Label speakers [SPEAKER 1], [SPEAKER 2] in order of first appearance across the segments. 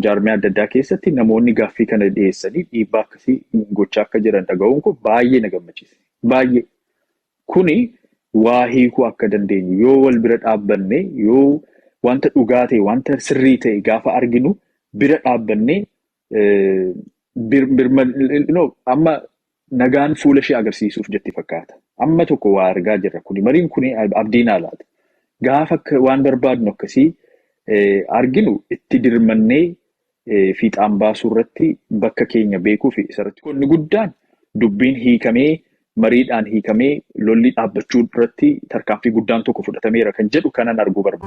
[SPEAKER 1] Jaarmiyaa adda addaa keessatti namoonni gaaffii kana dhiyeessanii dhiibbaa akkasii gochaa akka jiran dhaga'uun koo baay'ee na gammachiise. Baay'ee. Kuni waa hiikuu akka dandeenyu yoo wal bira dhaabbannee yoo wanta dhugaa ta'e wanta sirrii ta'e gaafa arginu bira dhaabbannee eh, bir- birma- no, amma Nagaan fuula ishee agarsiisuuf jetti fakkaata. Amma tokko waa argaa jirra. Kuni mariin kuni abdii naa laata. Gaafa akka waan barbaadnu akkasii arginu itti dirmannee fiixaan baasuu irratti bakka keenya beekuu fi isarratti qonni guddaan dubbiin hiikamee mariidhaan hiikamee lolli dhaabbachuu irratti tarkaanfii guddaan tokko fudhatameera kan jedhu kanan arguu barbaada.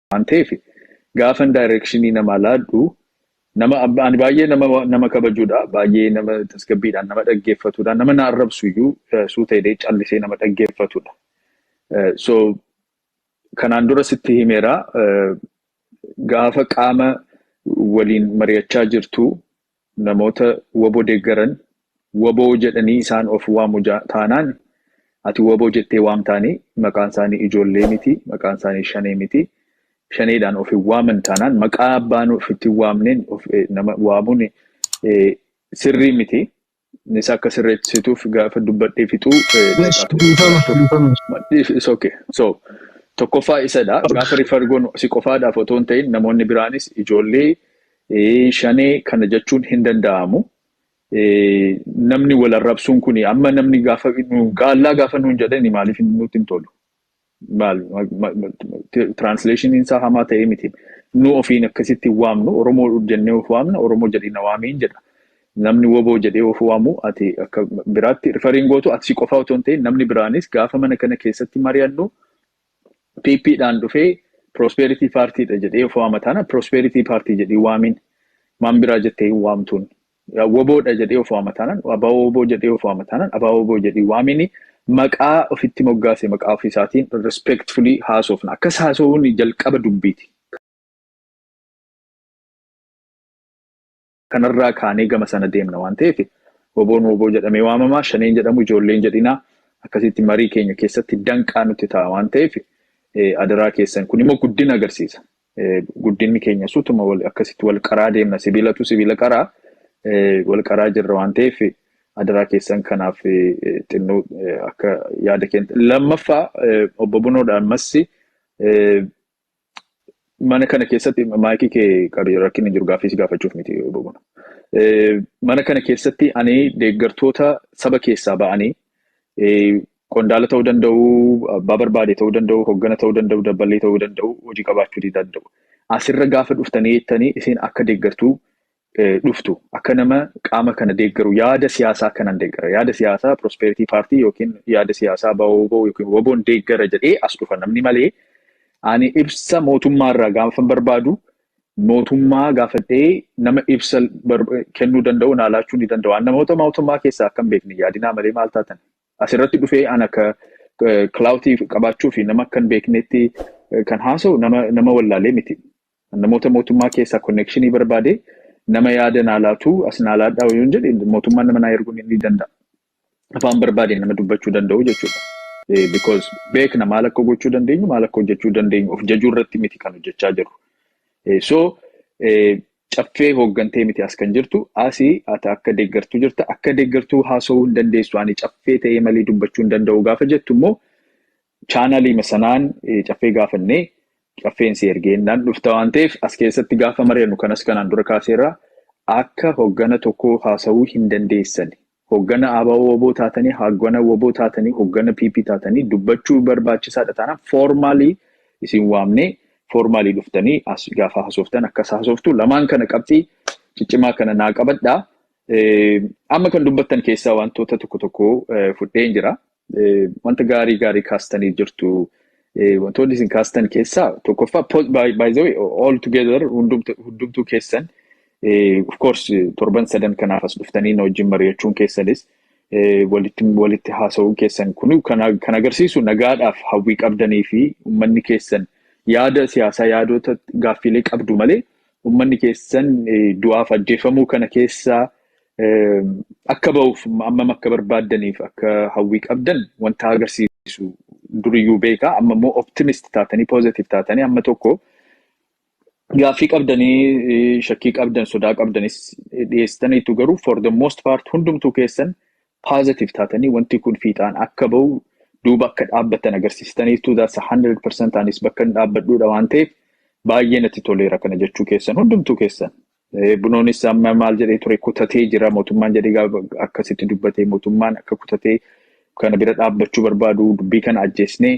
[SPEAKER 1] waan ta'eef gaafan daayireekshinii namaa laadhu nama ani baay'ee nama nama kabajuudha baay'ee nama tasgabbiidhaan nama dhaggeeffatuudha nama na arrabsu iyyuu suuta jedhee callisee nama dhaggeeffatuudha. So kanaan dura sitti himeera gaafa qaama waliin mari'achaa jirtu Namoota wbo deeggaran wbo jedhanii isaan of waamu taanaan ati wbo jettee waamtaanii maqaan isaanii ijoollee miti maqaan isaanii shanee miti shaneedhaan of hin waaman taanaan maqaa abbaan ofitti hin waamneen of nama waamuun sirrii miti nis akka sirreessituuf gaafa dubbadhee fixuu daqiiqaa tokko Dhiifama jira. dhiifama. Madhiif is okay. So tokkoffaa isadha. Gaafa refer goonu si qofaadhaaf otoo hin ta'in namoonni biraanis ijoollee Shanee kana jechuun hin danda'amu. Namni wal arrabsuun kuni amma namni gaafa gaallaa gaafa nuun jedhani maaliif nutti hin tolu? Maal tiraansileeshiniin isaa hamaa ta'ee miti. Nu ofiin akkasitti waamnu Oromoo jennee of waamna Oromoo jedhee na waamiin jedha. Namni woboo jedhee of waamu ati akka biraatti rifariin gootu ati si qofaa otoo hin ta'in namni biraanis gaafa mana kana keessatti mari'annu PP dhaan dhufee prosperity party dha jedhee of waama taana prosperity party jedhii waamiin maan biraa jettee hin waamtuun wbo dha jedhee of waama taanan wbo jedhee of waama taanan wbo jedhii waamiin maqaa ofitti moggaase maqaa ofii isaatiin respectfully haasofna akkas haasawuun jalqaba dubbiiti. Kanarraa kaanee gama sana deemna waan ta'eef Woboon wbo jedhamee waamama, Shaneen jedhamu ijoollee hin jedhinaa, akkasitti marii keenya keessatti danqaa nutti ta'a waan ta'eef adaraa keessan kun immoo guddina agarsiisa. Guddinni keenyas utuma akkasitti wal qaraa deemna sibiilatu sibiila qaraa wal qaraa jirra waan ta'eef adaraa keessan kanaaf xinnoo akka yaada keenya. Lammaffaa obbo Bunoodha ammas Mana kana keessatti maayikii kee qabi rakkinni jiru gaaffii si gaafachuuf miti bobona. Mana kana keessatti ani deeggartoota saba keessaa ba'anii qondaala ta'uu danda'u, abbaa barbaade ta'uu danda'u, hoggana ta'uu danda'u, dabballee ta'uu danda'u, hojii qabaachuu danda'u. Asirra gaafa dhuftanii jettanii isin akka deeggartuu dhuftu akka nama qaama kana deeggaru yaada siyaasaa kanan deeggara yaada siyaasaa prosperity party yookiin yaada siyaasaa baoboo yookiin waboon deeggara jedhee as dhufa namni malee ani ibsa mootummaa irraa gaafan barbaadu mootummaa gaafadhee nama ibsa kennuu danda'u naa laachuu ni danda'u an namoota mootummaa keessaa akkan beekne yaadinaa malee maal taatan asirratti dhufee an akka kilaawutii qabaachuu fi nama akkan beeknetti kan haasa'u nama wallaalee miti. An namoota mootummaa keessaa konneekshinii barbaadee nama yaada naa laatu as naa laadhaa yoon jedhe mootummaan nama naa erguu ni ni danda'a. Afaan barbaadeen nama dubbachuu danda'u jechuudha. Eh, Because beekna maal akka gochuu dandeenyu maal akka hojjechuu dandeenyu of jajuu irratti miti kan hojjechaa jirru. Eh, So eh, caffee hooggantee miti as kan jirtu asi ati akka deeggartuu jirta akka deeggartuu haasa'uu hin dandeessu ani caffee ta'ee malee dubbachuu hin danda'u gaafa jettu immoo Chaanaliima sanaan caffee gaafannee caffeen si ergee innaan dhufta waan ta'eef as keessatti gaafa mari'annu kanas kanaan dura kaaseerra akka hoggana tokkoo haasa'uu hin dandeessani. Hoggana ABO-WBO taatanii, hoggana WBO taatanii, hoggana PP taatanii dubbachuu barbaachisaadha taanaan foormaalii isin waamnee foormaalii dhuftanii as gaafa hasooftan akkas hasooftu lamaan kana qabxii ciccimaa kana naa qabadhaa. Amma kan dubbattan keessaa wantoota tokko tokko fudheen jira. Wanta gaarii gaarii kaastanii jirtu. Wantoonni isin kaastan keessaa tokkoffaa by the way all together hundumtuu keessan of course torban sadan kanaaf as dhuftanii na wajjin mari'achuun keessanis walitti walitti haasa'uun keessan kun kan agarsiisu nagaadhaaf hawwii qabdanii fi uummanni keessan yaada siyaasaa yaadota gaaffiilee qabdu malee Ummanni keessan du'aaf ajjeefamuu kana keessaa akka ba'uuf ammam akka barbaaddaniif akka hawwii qabdan wanta agarsiisu duriyyuu beeka. Amma immoo optimist taatanii positive taatanii amma tokko gaaffii qabdanii shakkii qabdan sodaa qabdanis dhiyeessitaniitu garuu for the most part hundumtuu keessan positive taatanii wanti kun fiixaan akka ba'u duuba akka dhaabbattan agarsiistaniitu that's 100% anis bakka hin dhaabbadhuudha waan ta'eef baay'ee natti toleera kana jechuu keessan hundumtuu keessan. Eh, Bunoonis amma maal jedhee ture kutatee jira mootummaan jedhee gaafa akkasitti dubbatee mootummaan akka kutatee kana bira dhaabbachuu barbaadu dubbii kana ajjeesnee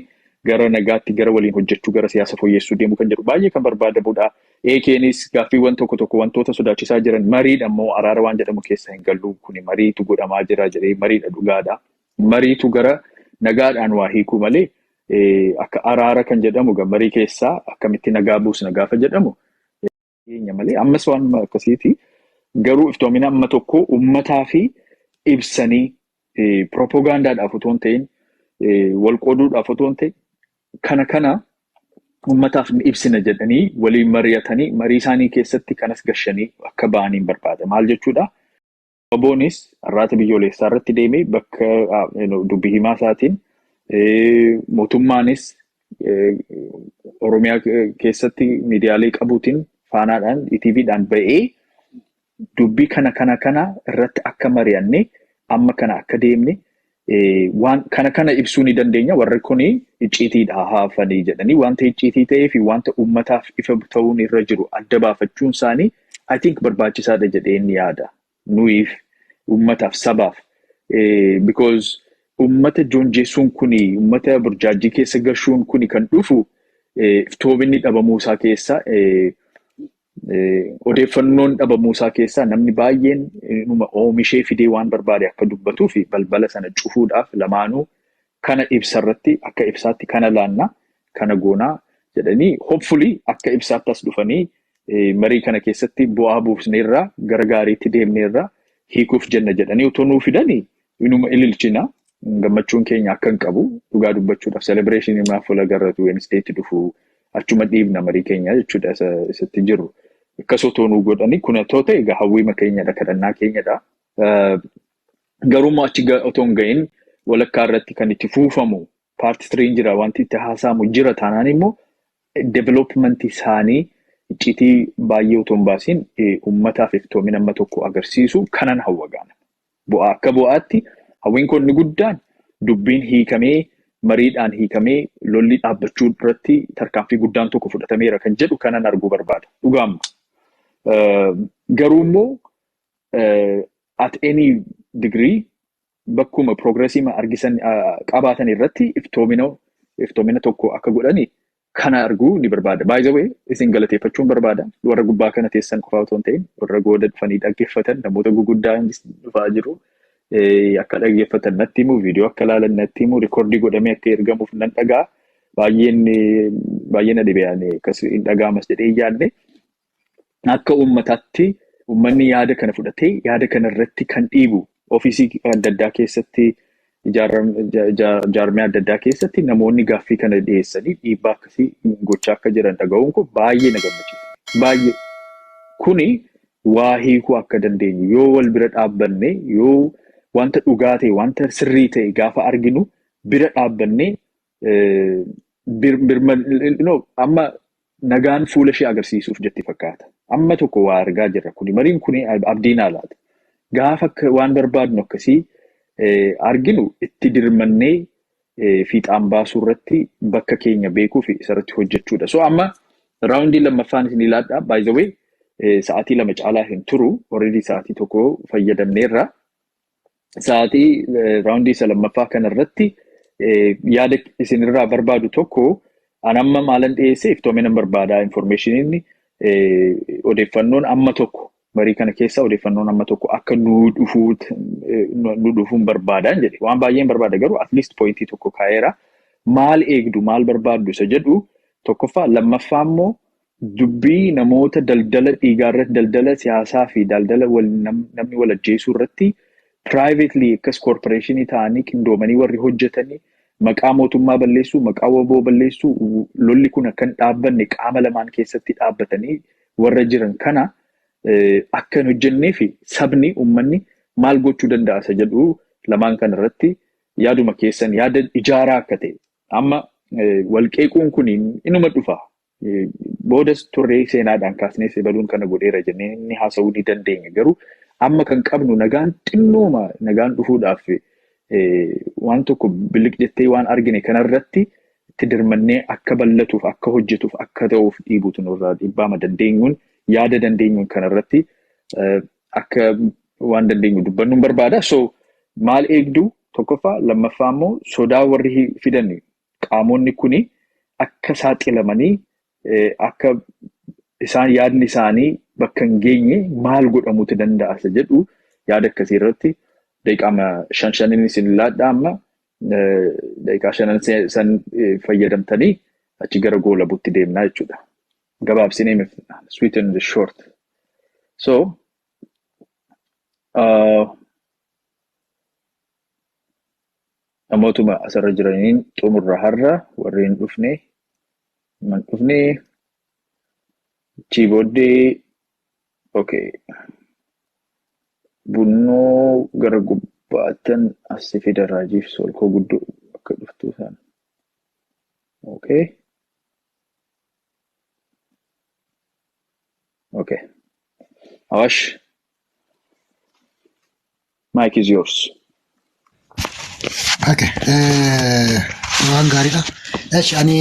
[SPEAKER 1] gara nagaatti gara waliin hojjechuu gara siyaasa fooyyessuu deemuu kan jedhu baay'ee kan barbaadamudha. Eekeenis gaaffiiwwan tokko tokko wantoota sodaachisaa jiran mariidha immoo araara waan jedhamu keessa hin gallu kuni mariitu godhamaa jira jedhee mariidha dhugaadha. Mariitu gara nagaadhaan waa hiikuu malee eh, akka araara kan jedhamu ga marii keessaa akkamitti nagaa buusna gaafa jedhamu keenya malee ammas waanuma akkasiiti. Garuu iftoomina amma tokko ummataa fi ibsanii eh, piropogaandaadhaaf otoo hin ta'in eh, wal qooduudhaaf otoo hin ta'in Kana kana ummataaf ni ibsina jedhanii waliin mari'atanii marii isaanii keessatti kanas gashanii akka ba'aniin barbaada. Maal jechuudha? Waboonis arraata biyyoolessaa irratti deemee bakka dubbi himaa isaatiin mootummaanis Oromiyaa keessatti miidiyaalee qabuutiin faanaadhaan ETVdhaan ba'ee Dubbii kana kana kana irratti akka mari'anne amma kana akka deemne waan kana kana ibsuu ni dandeenya warri kun icciitiidha haafanii jedhanii wanta icciitii ta'ee fi wanta uummataaf ifa ta'uun irra jiru adda baafachuun isaanii I think barbaachisaadha jedheen yaada nuyiif uummataaf sabaaf because uummata joonjeessuun kun uummata burjaajjii keessa gashuun kun kan dhufu iftoobinni dhabamuu isaa keessa Odeeffannoon dhabamuusaa keessaa namni baay'een inuma oomishee fidee waan barbaade akka dubbatuu fi balbala sana cufuudhaaf lamaanuu kana ibsarratti akka ibsaatti kana laanna kana goonaa jedhanii hopefully akka ibsaatti as dhufanii marii kana keessatti bu'aa buufneerraa gara gaariitti deemneerraa hiikuuf jenna jedhanii utuu nuu fidanii Inuma ililchina gammachuun keenya akka hin qabu dhugaa dubbachuudhaaf celebration imaa fuula garratu Wednesday itti dhufu achuma dhiibna marii keenya jechuudha isa isatti jiru. Akkas otoo nuu godhanii kun otoo ta'e egaa hawwiima keenyadha kadhannaa keenyadha. Eh, Garuu immoo achi ga- otoo hin ga'in walakkaa irratti kan itti fuufamu paarti tiriin jira wanti itti haasa'amu jira taanaan immoo development isaanii iccitii baay'ee otoo hin baasiin eh, uummataaf iftoomina amma tokko agarsiisu kanan hawwa gaana. Bu'aa Akka bu'aatti hawwiin koo inni guddaan dubbiin hiikamee mariidhaan hiikamee lolli dhaabbachuu irratti tarkaanfii guddaan tokko fudhatameera kan jedhu kanan arguu barbaada. Dhugaamma. Garuu immoo at any degree bakkuma progressiima argisan qabaatan irratti iftoomina iftoomina tokko akka godhani kana arguu ni barbaada. By the way, isin galateeffachuun barbaada. Warra gubbaa kana teessan qofaa otoo hin ta'in, warra gooda dhufanii dhaggeeffatan, namoota guguddaa dhufaa jiru. Eh, Akka dhaggeeffatan natti himu, viidiyoo akka ilaalan natti himu, rikoordii godhamee akka ergamuuf nan dhaga'a. Baay'een eh, baay'ee na dhibe ani akkas hin dhaga'amas jedhee hin yaadne. akka uummataatti uummanni yaada kana fudhatee yaada kana irratti kan dhiibu ofiisii adda addaa keessatti jaarmee adda addaa keessatti namoonni gaaffii kana dhiyeessanii dhiibbaa akkasii gochaa akka jiran dhaga'uun kun baay'ee na gammachiisa. Baay'ee kuni waa hiikuu akka dandeenyu yoo wal bira dhaabbanne yoo wanta dhugaa ta'e wanta sirrii ta'e gaafa arginu bira dhaabbanne Amma nagaan fuula ishee agarsiisuuf jetti fakkaata. Amma tokko waa argaa jirra kuni. Mariin kuni abdii naa laata. Gaafa waan barbaadnu akkasii arginu itti dirmannee fiixaan baasuu irratti bakka keenya beekuu fi isarratti hojjechuudha. So amma raawundii lammaffaan isin ilaadha. By the way sa'aatii lama caalaa hin turu. Already sa'aatii tokko fayyadamneerra. sa'aatii raawundii isa lammaffaa kana irratti yaada isinirraa barbaadu tokko an amma maalan dhiyeessee iftoominan barbaadaa infoormeeshiniin odeeffannoon amma tokko marii kana keessa odeeffannoon amma tokko akka nu dhufuun barbaadaan jedhe waan baay'een barbaada garuu atleast poointii tokko kaa'eera maal eegdu maal barbaaddu isa jedhu tokkoffaa lammaffaa immoo Dubbii namoota daldala dhiigaarratti, daldala siyaasaa fi daldala wal, nam, namni wal ajjeesuu irratti privately akkas corporation ta'anii qindoomanii warri hojjetanii maqaa mootummaa balleessuu, maqaa waboo balleessuu, w- lolli kun akka hin dhaabbanne qaama lamaan keessatti dhaabbatanii warra jiran kana eh, akka hin hojjennee fi sabni, ummanni maal gochuu danda'a isa jedhu lamaan kana irratti yaaduma keessan yaada ijaaraa akka ta'e amma eh, wal qeequun kun inuma dhufa Boodas turree seenaadhaan kaasnees ebaluun kana godheera jennee inni haasa'uu ni dandeenya. Garuu amma kan qabnu nagaan xinnooma nagaan dhufuudhaaf waan tokko biliq jettee waan argine kanarratti itti dirmannee akka ballatuuf akka hojjetuuf akka ta'uuf dhiibuutu nurraa dhibbaama dandeenyuun yaada dandeenyuun kanarratti akka waan dandeenyu dubbannuun barbaada. So maal eegduu tokkoffaa lammaffaa immoo sodaa warri fidan qaamonni kun akka saaxilamanii akka isaan yaadni isaanii bakka hin geenye maal godhamuuti danda'a isa jedhu yaada akkasii irratti daqiiqaama shan shaniin isin laadhaa amma daqiiqaa shanan san fayyadamtanii achi gara goolabuutti deemnaa jechuudha. Gabaabsinee himif sweet and short. So uh, Namootuma asirra jiraniin xumurra har'a warri hin dhufne man dhufne achii booddee okay bunnoo gara gubbaattan assi fida raajiif soolkoo guddoo akka dhuftuu sana okay okay awaash Mike is yours. Okay.
[SPEAKER 2] eh, Waan gaariidha. Esh, ani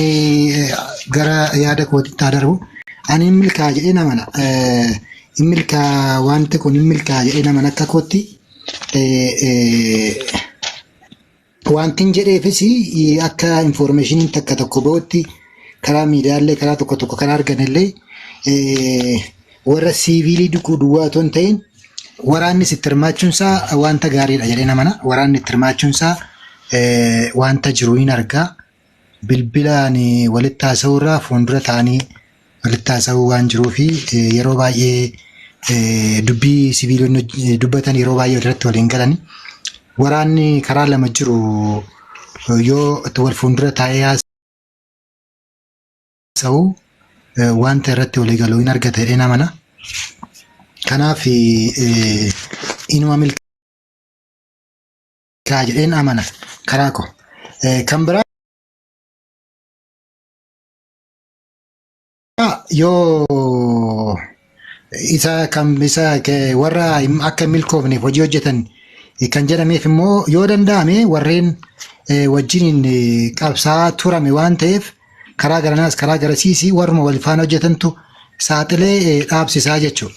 [SPEAKER 2] eh, gara yaada kootitti haa darbu. Ani hin milkaa'a jedhee nama na. eh, Hin milkaa'a wanti kun hin milkaa'a jedhee nama na akka kootti. eh, eh, Wantin jedheefis akka infoormeeshiniin takka tokko ba'utti karaa miidiyaallee karaa tokko tokko kan arganellee eh, warra siiviilii duquu duwwaa otoo hin ta'in waraannis itti hirmaachuun isaa wanta gaariidha jedhee namana. Waraanni itti hirmaachuun isaa eh, wanta jiru hin argaa. bilbilaan walitti haasa'uu irraa fuuldura ta'anii walitti haasa'uu waan jiruu fi yeroo baay'ee dubbii siviilonni dubbatan yeroo baay'ee irratti waliin galan waraanni karaa lama jiru yoo wal fuuldura taa'ee haasa'u wanta irratti walii galu hin argata jedhee namana. Kanaaf inuma milkaa'e. jira jedheen amana karaa koo. Eh, Kan biraa yoo isa kan isa ke- warra hin- akka hin milkoofneef hojii hojjetan eh, kan jedhameef immoo yoo danda'ame warreen eh, wajjiniin eh, qabsaa turame waan ta'eef karaa garanaas karaa garasiis warruma wal faana hojjetantu saaxilee eh, dhaabsisaa jechuudha.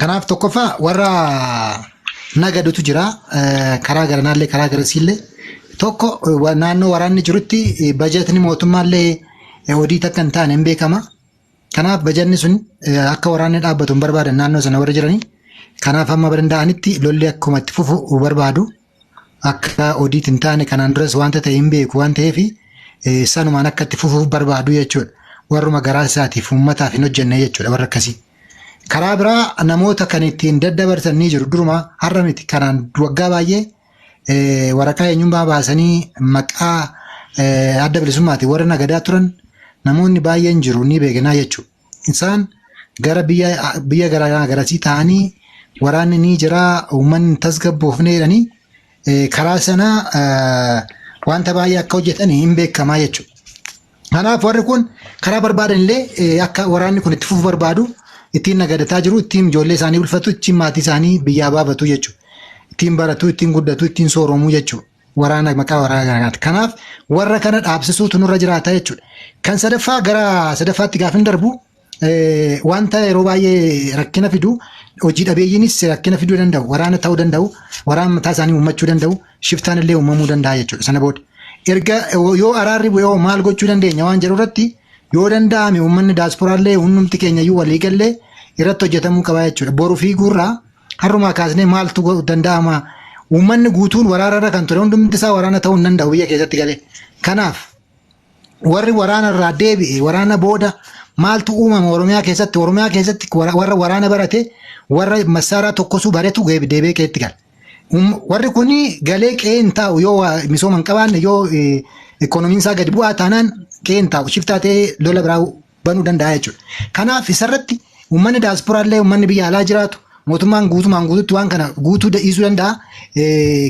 [SPEAKER 2] Kanaaf tokkoffaa warra nagadutu jira. Eh, Karaa garanaallee karaa garasiillee. Tokko eh, wa- naannoo waraanni jirutti eh, bajetni mootummaallee eh, odiit akka hin taane hin beekama. Kanaaf bajanni sun eh, akka waraanni dhaabbatu hin barbaadan naannoo sana warri jiranii. Kanaaf amma danda'anitti lolli akkuma itti fufu barbaadu. akka odiit hin taane kanaan duras wanta ta'e hin beeku waan ta'eef eh, sanumaan akka itti fufuuf barbaadu jechuudha. Warruma garaa isaatiif uummataaf hin hojjenne jechuudha warra akkasii. Karaa biraa namoota kan ittiin daddabarsan ni jiru. Duruma har'a miti kanaan waggaa baay'ee eh, waraqaa eenyummaa baasanii maqaa eh, adda bilisummaatiin warra nagadaa turan namoonni baay'een jiru ni beekanaa jechuudha. Isaan gara biyya biyya garaagaraa garasii ta'anii waraanni ni jira uummanni hin tasgabboofne jedhanii eh, karaa sana eh, wanta baay'ee akka hojjetan hin beekamaa jechuudha. Kanaaf warri kun karaa barbaadan illee eh, akka waraanni kun itti fufu barbaadu ittiin nagadataa jiru, ittiin ijoollee isaanii bulfatu, ittiin maatii isaanii biyyaa baafatu jechuudha. Ittiin baratu, ittiin guddatu, ittiin sooromu jechuudha. waraana maqaa waraana garaati. Kanaaf warra kana dhaabsisuutu nurra jiraata jechuudha. Kan sadaffaa gara sadaffaatti gaafin darbu eh, wanta yeroo baay'ee rakkina fidu hojii dhabeeyyiinis rakkina fiduu danda'u waraana ta'uu danda'u waraana mataa isaanii uummachuu danda'u shiftaan illee uumamuu danda'a jechuudha sana booda. Erga yoo araarri bu'ee hoo maal gochuu dandeenya waan jedhu irratti yoo danda'ame uummanni daasporaallee hundumti keenya iyyuu walii gallee irratti hojjetamuu qaba jechuudha. Boru fiiguurraa Har'umaa kaasnee maaltu godhu danda'ama? Uummanni guutuun waraanarra kan ture hundumti isaa waraana ta'uu hin danda'u biyya keessatti galee. Kanaaf warri waraanarraa deebi'e waraana booda maaltu uumama Oromiyaa keessatti? Oromiyaa keessatti wara- warra waraana barate warra massaaraa tokkosuu baretu geeb- deebi'ee qe'eetti gala. Um- Warri kun galee qe'ee hin taa'u yoo waa misooma hin qabaanne yoo eh, ikoonomiin isaa gadi bu'aa taanaan qe'ee hin taa'u. Shiftaa ta'ee lola biraa banuu danda'a jechuudha. Kanaaf isarratti uummanni daasporaa illee uummanni biyya alaa jiraatu mootummaan guutumaan guututti waan kana guutuu dhiisuu danda'a.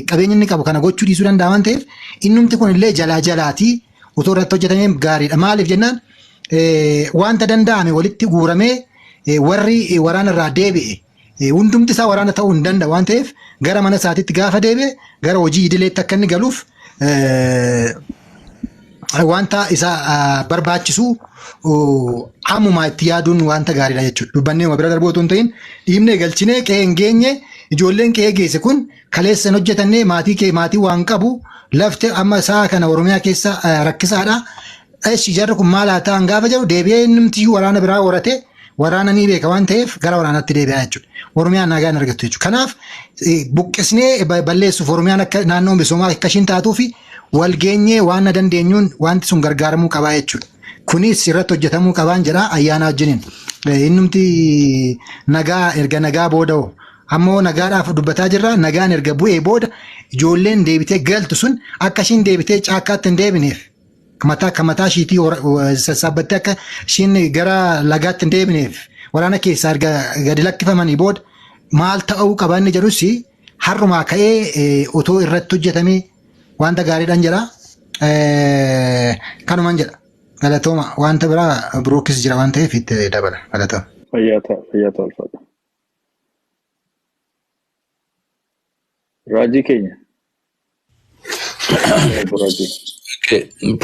[SPEAKER 2] Qabeenya inni qabu kana gochuu dhiisuu danda'a waan ta'eef innumti kun illee jalaa jalaatii otoo irratti hojjetamee gaariidha. Maaliif jennaan wanta danda'ame walitti guuramee warri waraana irraa deebi'e Eh, Hundumti isaa waraana ta'uu hin danda'a waan ta'eef gara mana isaatiitti gaafa deebi'e gara hojii idileetti akka inni galuuf eh, wanta isa ah, barbaachisu oh, ammumaa itti yaaduun wanta gaariidha jechuudha. Dubbannee uma bira darbuu otoo hin ta'in dhiibnee galchinee qe'ee hin geenye ijoolleen qe'ee geesse kun kaleessa hin hojjetannee maatii kee maatii waan qabu lafte amma sa'a kana Oromiyaa keessa ah, rakkisaadha. Eshi jarri kun maal haa ta'an gaafa jedhu deebi'ee innumtiyyuu waraana biraa horatee waraana ni beeka waan ta'eef gara waraanaatti deebi'aa jechuudha. Oromiyaa nagaa hin argattu jechuudha. Kanaaf eh, buqqisnee ba- balleessuuf Oromiyaan akka naannoo misoomaa akka ishiin taatuu fi wal geenyee waan na dandeenyuun wanti sun gargaaramuu qabaa jechuudha. Kunis irratti hojjetamuu qabaan jedha ayyaana wajjiniin. Eh, Innumti nagaa erga nagaa booda hoo? ammoo nagaadhaaf dubbataa jirra nagaan erga bu'ee booda ijoolleen deebitee galtu sun akka ishiin deebitee caakkaatti hin deebineef mataa akka mataa ishiitii hora- wa- sassaabbattee akka ishiin gara lagaatti hin deebineef waraana keessaa erga gadi lakkifamanii booda maal ta'uu qaba inni jedhus har'umaa ka'ee eh, otoo irratti hojjetamee wanta gaariidhaan jedha. Eh, Kanuman jedha. Galatooma wanta biraa birookis jira waan ta'eef itti dabala. Galatooma. Fayyaa ta'a, fayyaa ta'a
[SPEAKER 1] ulfaadha. Raajii keenya.
[SPEAKER 3] Raajii.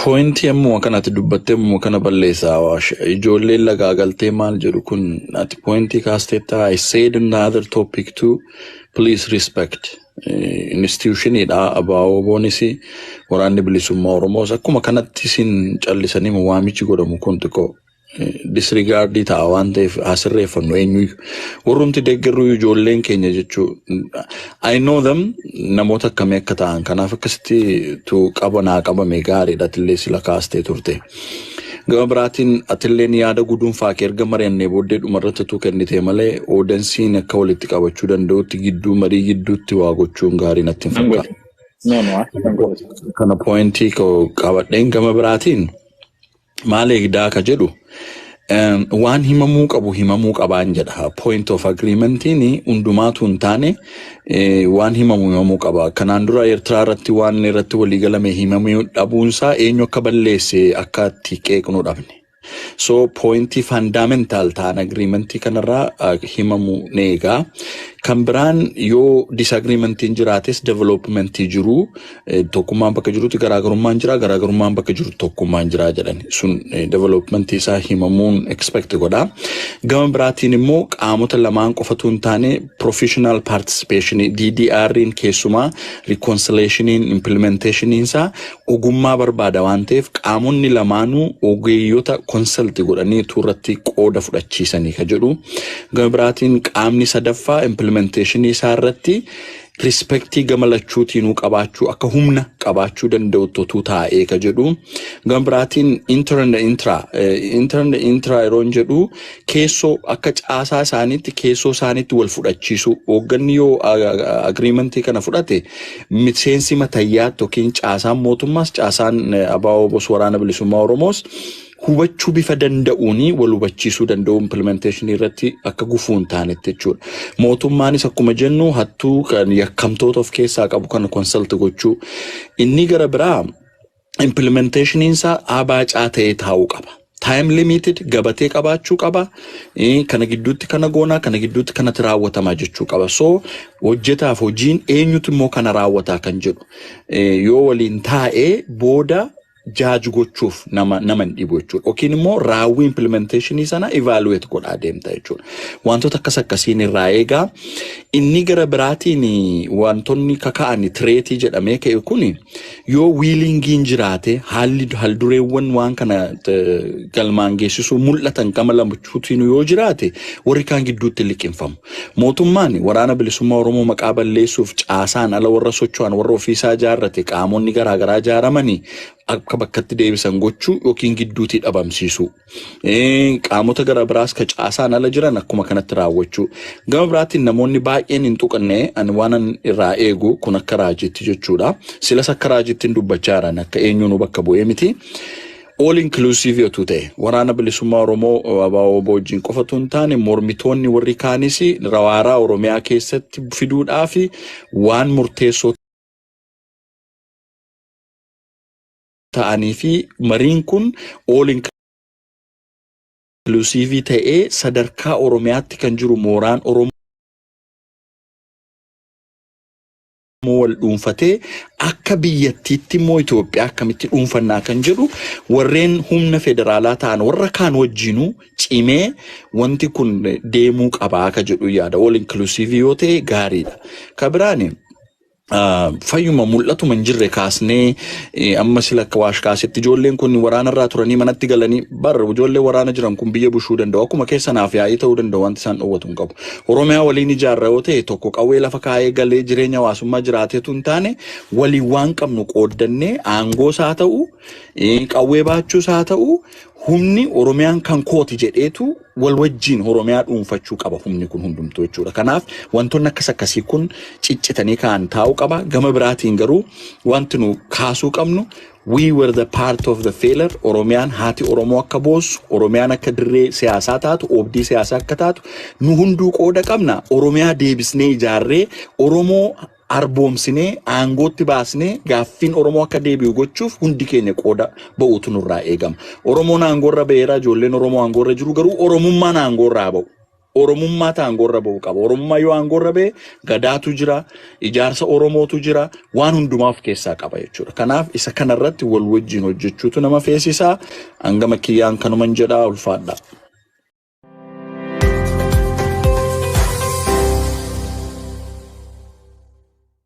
[SPEAKER 3] Poointii ammuma kanatti dubbattee ammuma kana balleessaa waash ijoolleen lagaa galtee maal jedhu kun ati poointii kaasteetta I said in the other topic too please respect institutionidha abaaboonis waraanni bilisummaa oromoos akkuma kanatti isin callisanii waamichi godhamu kun xiqqoo disrigaardii ta'a waan ta'eef haa sirreeffannu eenyuyyuu. Warrumti deeggarruu ijoolleen keenya jechuu I know them namoota akkamii akka ta'an kanaaf akkasitti tu qaba naa qabame gaariidha atillee sila kaastee turte. Gama biraatiin atilleen yaada guduunfaa kee erga mari'annee booddee dhumarratti tu kennitee malee oodansiin akka walitti qabachuu danda'utti gidduu marii gidduutti waa gochuun gaarii natti hin Nan fakkaatu. godhe. No, no, akka kan godhe. Kana poointii koo qabadheen gama biraatiin maal eegdaa ka jedhu em, waan himamuu qabu himamuu qabaan jedha point of agreementiin hundumaatu hin taane eh, waan himamu himamuu qaba kanaan dura eertiraa irratti waan irratti walii galame himamuu dhabuunsaa eenyu akka balleesse akka itti qeeqnu dhabne so pointii faandaamentaal ta'an agriimentii kanarraa ah, himamu ni eegaa kan biraan yoo disagriimentiin jiraates developmentii jiruu Tokkummaan bakka jirutti garaagarummaan jira, garaagarummaan bakka jiru tokkummaan jira jedhan. Sun development isaa himamuun expect godha. Gama biraatiin immoo qaamota lamaan qofatu hin taane professional participation DDR'n keessumaa reconciliationiin implementationiin isaa ogummaa barbaada waan ta'eef qaamonni lamaanuu ogeeyyota consult godhanii irratti qooda fudhachiisanii ka jedhu. Gama biraatiin qaamni sadaffaa implementationii isaa irratti rispektii gama lachuutiinuu qabaachuu akka humna qabaachuu danda'utti otuu taa'ee ka jedhu gama biraatiin intaranda intiraa intaranda intiraa yeroon jedhu keessoo akka caasaa isaaniitti keessoo isaaniitti wal fudhachiisuu hoogganni yoo agiriimantii kana fudhate miseensi matayyaatti yookiin caasaan mootummaas caasaan abaabos waraana bilisummaa oromoos hubachuu bifa danda'uun wal hubachiisuu danda'u implementation irratti akka gufuu hin taanetti jechuudha. Mootummaanis akkuma jennu hattuu kan yakkamtoota of keessaa qabu kana konsalti gochuu. Inni gara biraa implementationiin isaa abaacaa ta'ee taa'uu qaba. Time limited gabatee qabaachuu qaba. Eh, Kana gidduutti kana goonaa, kana gidduutti kanatti raawwatamaa jechuu qaba. So hojjetaaf hojiin eenyutu immoo kana raawwataa kan jedhu eh, yoo waliin taa'ee booda judge gochuuf nama nama hin dhibu jechuudha. Yookiin immoo raawwii implementation sana evaluate godhaa deemta jechuudha. Wantoota akkas akkasiin irraa eegaa. Inni gara biraatiin wantoonni kaka'an tireetii jedhamee ka'e kun yoo wiilingiin jiraate haalli haldureewwan waan kana eh, galmaan geessisuu mul'atan gama lamachuutiin yoo jiraate warri kaan gidduutti liqinfamu. Mootummaan Waraana Bilisummaa Oromoo maqaa balleessuuf caasaan ala warra socho'an warra ofiisaa ijaarrate qaamonni garaa garaa ijaaramanii akka bakkatti deebisan gochuu yookiin gidduutii dhabamsiisuu. Qaamota gara biraas ka caasaan ala jiran akkuma kanatti raawwachuu. Gama biraatiin namoonni baay'een hin tuqanne ani waanan irraa eegu kun akka raajiitti jechuudha. Silas akka raajiitti hin dubbachaa jiran akka eenyuunuu bakka bu'ee miti. All inclusive otuu ta'e Waraana Bilisummaa Oromoo ABO-WBO wajjin qofa otuu hin taane mormitoonni warri kaanis waaraa Oromiyaa keessatti fiduudhaaf waan murteessoo ta'anii fi mariin kun all inclusive ta'ee sadarkaa Oromiyaatti kan jiru mooraan Oromoo Oromoo wal dhuunfatee akka biyyattiitti immoo Itoophiyaa akkamitti dhuunfannaa kan jedhu warreen humna federaalaa ta'an warra kaan wajjinuu cimee wanti kun deemuu qabaa akka jedhu yaada all inclusive yoo ta'e gaariidha. Ka biraan fayyuma mul'atuma hin jirre kaasnee amma sila akka waash kaasetti ijoolleen kun waraana irraa turanii manatti galanii barra ijoollee waraana jiran kun biyya bushuu danda'u akkuma keessa naaf yaa'ii ta'uu danda'u wanti isaan dhoowwatu hin qabu. Oromiyaa waliin ijaarra yoo ta'e tokko qawwee lafa kaa'ee galee jireenya hawaasummaa jiraateetu hin taane waliin waan qabnu qooddannee aangoos haa ta'u eh, qawwee baachuus haa ta'u humni Oromiyaan kan kooti jedheetu wal wajjiin Oromiyaa dhuunfachuu qaba humni kun hundumtuu jechuudha. Kanaaf wantoonni akkas akkasii kun ciccitanii ka'an taa'uu qaba. Gama biraatiin garuu wanti nu kaasuu qabnu We were the part of the failure Oromiyaan haati Oromoo akka boossu, Oromiyaan akka dirree siyaasaa taatu, oobdii siyaasaa akka taatu nu hunduu qooda qabna. Oromiyaa deebisnee ijaarree, Oromoo arboomsinee, aangootti baasnee gaaffiin Oromoo akka deebi'u gochuuf hundi keenya qooda ba'uutu nurraa eegama. Oromoon aangoorra ba'eera, ijoolleen Oromoo aangoorra jiru garuu Oromummaan aangoorra haa ba'u. Oromummaatu aangoorra ba'uu qaba. Oromummaa yoo aangoorra ba'e gadaatu jira, ijaarsa Oromootu jira, waan hundumaa of keessaa qaba jechuudha. Kanaaf isa kanarratti wal wajjin hojjechuutu nama feesisa. Hangama kiyyaan kanuman jedha ulfaadha.